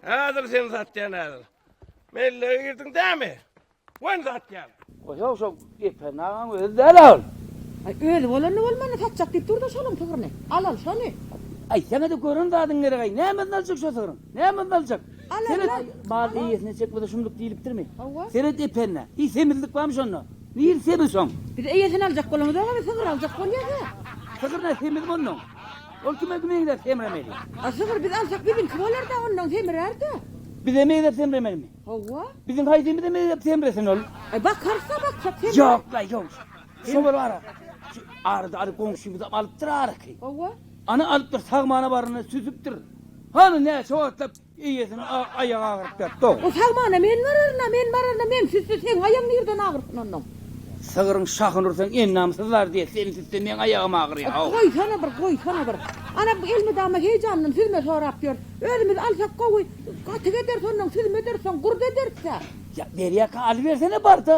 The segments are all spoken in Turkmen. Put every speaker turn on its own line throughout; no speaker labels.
Häzir sen satýan häzir. Mellege girdiň dämi? Wen satýan. Goşa şo
gepen agaň özi däl ol. Ay özi
bolanda bolmanda satjak diyip durda şonuň sygryny. Alal şony. Aýtsaňada
gören zadyň gerek aý nämesini aljak şo sygryň nämesini aljak seret
bal
eýesine
çekmese
şumluk diýlipdirmi seret epende
hiç
semizlik barmy şonda niresi semiz şoň biz eýesini aljak
bolamyzok a biz sygyr aljak bolýas a sygyr nä semizmi
onnoň. Ol kime meňzäp semremeli? A sygyr biz alsak
biziňki bolar-da, ondan semrär-dä. Bize meňzäp
semremelimi? Hawa. Biziň
haýsymyza
meňzäp semresin ol? E bakarys-a,
baksak semrär. Ýok-laý, ýok.
Şo bir ara. Şu arada alyp goňşymyzam alypdyr arky. Hawa. Ana alypdyr, sagmana baranda süzüpdir. Hany näçe wagtlap Eýesiniň aýagy agyryp ýatdy-ow. O sagmana men
bararyn-a, men bararyn-a, men sütse seň aýagyň nirden agyrsyn onnoň? Sygryň
şahyny ursaň ennamsyz bar diýýä, sen sütse meň aýagym agyrýa-ow. Goýsana bir, goýsana
bir. Ana, elmydama heýjandan süzme sorap ýör. Özümiz alsak gowy, gatyk ederis onnoň, süzme ederis, soň gurt ederis-ä. Ýa, berýäkä,
alybersene bar-da.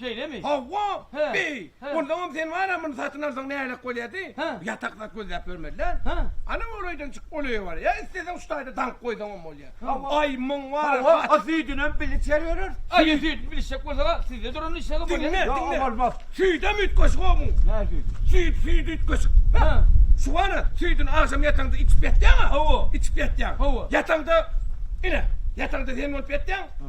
Şeýlemi?
Hawa.
Hä. Beý,
Hä.
onsoňam
sen bar-a
muny
satyn alsaň nälet bolýardy? Hä. Ýatak zat
gözläp
ýörmeli-dä. Hä. Ana golaýdan
çyk,
ol öýe bar. Ýa isleseň şu taýda daňyp goýsaňam bolýar. Hawa. Aý, muň
bar-a
Hawa, a hat. süýdünem bilişer
ýörür. Aý, Süýt. süýdüni bilişjek
bolsa-a sizde duranyny içseňem bolýar. Diňle, Ýa, diňle. bolmaz.
Süýdem üýtgeşik
o muň. Nä süýdi?
Süýt, süýt üýtgeşik. Hä.
Hä. Şu
bar-a,
süýdüni agşam ýataňda içip ýatýaň-a. Hawa. Içip ýatýaň. Hawa. Ýataňda, ine, ýataňda sen bolup ýatýaň. Hä.